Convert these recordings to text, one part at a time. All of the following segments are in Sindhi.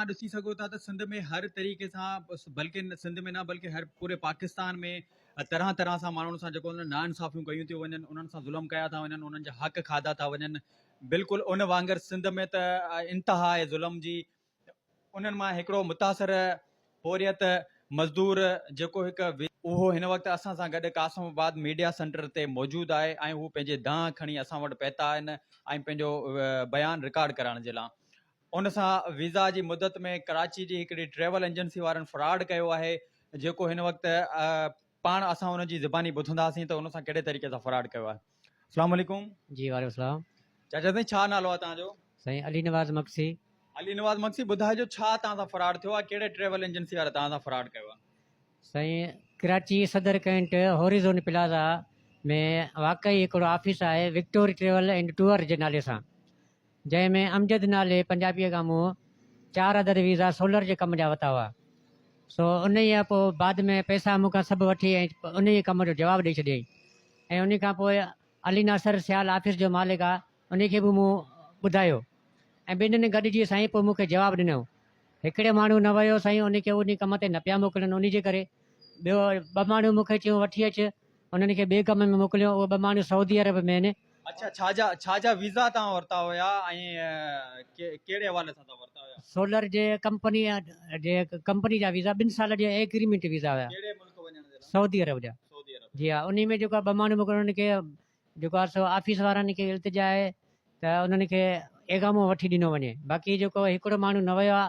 توهان ڏسي سگهو ٿا ته سنڌ ۾ هر طريقي سان بلڪه سنڌ ۾ نه بلڪه هر پوري پاڪستان ۾ طرح طرح سان ماڻهن سان جيڪو نا انصافيون ڪيون ٿيون وڃن انهن سان ظلم ڪيا ٿا وڃن انهن جا حق کاڌا ٿا وڃن بلڪل ان وانگر سنڌ ۾ ته انتها آهي ظلم جي انهن مان هڪڙو متاثر پوريت مزدور جيڪو هڪ اهو هن وقت اسان سان گڏ قاسم آباد ميڊيا سينٽر تي موجود آهي ۽ هو پنهنجي دانهن کڻي اسان وٽ پهتا آهن ۽ پنهنجو بيان رڪارڊ ڪرائڻ جي لاء ان سان ويزا جي مدت ۾ ڪراچي جي هڪڙي ٽريول ايجنسي وارن فراڊ ڪيو آهي جيڪو هن وقت پاڻ اسان ان جي زباني ٻڌنداسين ته ان سان ڪهڙي طريقي سان فراڊ ڪيو آهي اسلام عليڪم جي وعليڪم السلام چاچا سائين ڇا نالو آهي توهان جو سائين علي نواز مگسي علي نواز مگسي ٻڌائجو ڇا توهان سان فراڊ ٿيو آهي ڪهڙي ٽريول ايجنسي واري توهان سان فراڊ ڪيو آهي سائين ڪراچي صدر ڪينٽ هوريزون پلازا ۾ واقعي هڪڙو آفيس آهي وڪٽوري ٽريول اينڊ ٽوئر جي نالي سان جنهن ۾ امجد نالي پنجابيء کان مون چار عدد ويزا سولر جي ڪم جا وتا هئا، سو انهيء پوء بعد ۾ پئسا مون کان سڀ وٺي ۽ انهيء ڪم جو جواب ڏئي ڇڏيائين ۽ انهيء کان پوء علي ناصر سيال آفيس جو مالڪ آ انهيء کي به مون ٻڌايو ۽ ٻنهين گڏجي سائين پوء مون کي جواب ڏنو هڪڙي ماڻهو نه ويو سائين انهيء کي انهيء ڪم تي نه پيا موڪلن انهيء جي ڪري ٻيو ٻه ماڻهو مون کي چيو وٺي اچ انهن کي ٻئي ڪم ۾ موڪليو اهي ٻه ماڻهو سعودي عرب ۾ آهن اڇا ڇا جا ڇا جا ويزا توهان ورتا هيا ۽ ڪهڙي حوالي سان توهان ورتا هيا. سولر جي ڪمپني جي ڪمپني جا ويزا ٻن سالن جا ايگريمينٽ ويزا هيا. ڪهڙي ملڪ وڃڻ جي لاء. سعودي عرب جا. سعودي عرب. جي ها انهي ۾ جيڪو آهي ٻه ماڻهو موڪلڻ انهن کي جيڪو آهي سو آفيس وارن کي التجا آهي ته انهن کي ايگامو وٺي ڏنو وڃي باقي جيڪو هڪڙو ماڻهو نه ويو آهي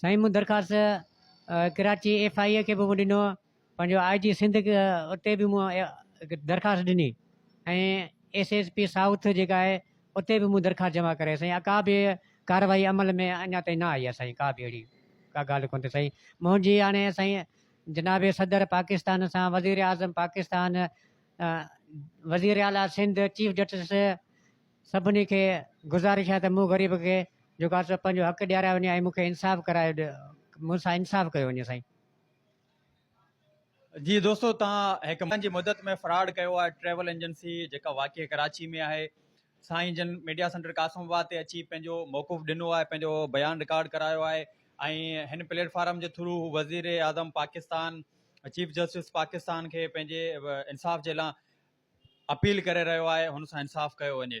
سائين مون درخواست ڪراچي ايف آء اي کي به مون ڏنو پنهنجو آء جي سنڌ اتي به مون درخواست ڏني ۽ ايس ايس پي سائوٿ جيڪا آهي اتي به مون درخواست جمع ڪرائي سائين ڪا به ڪارروائي عمل ۾ اڃا تائين نه آئي آهي سائين ڪا به اهڙي ڪا ڳالهه ڪونه ٿي سائين منهنجي هاڻي سائين جناب صدر پاڪستان سان وزيراعظم پاڪستان وزيراعليٰ سنڌ چيف جسٽس سڀني کي گذارش آهي ته مون غريب کي جيڪو آهي سو پنهنجو حق ڏيارايو وڃي ۽ مون کي انصاف ڪرايو ڏي مون سان انصاف ڪيو وڃي سائين. جي دوستو توهان هڪ مهيني جي مدت ۾ فراڊ ڪيو آهي ٽريول ايجنسي جيڪا واقع ڪراچي ۾ آهي سائين جن ميڊيا سينٽر قاسم آباد تي اچي پنهنجو موقف ڏنو آهي پنهنجو بيان رڪارڊ ڪرايو آهي ۽ هن پليٽ فارم جي ٿرو هو وزير اعظم پاڪستان چيف جسٽس پاڪستان کي پنهنجي انصاف جي لا اپيل ڪري رهيو آهي هن سان انصاف ڪيو وڃي.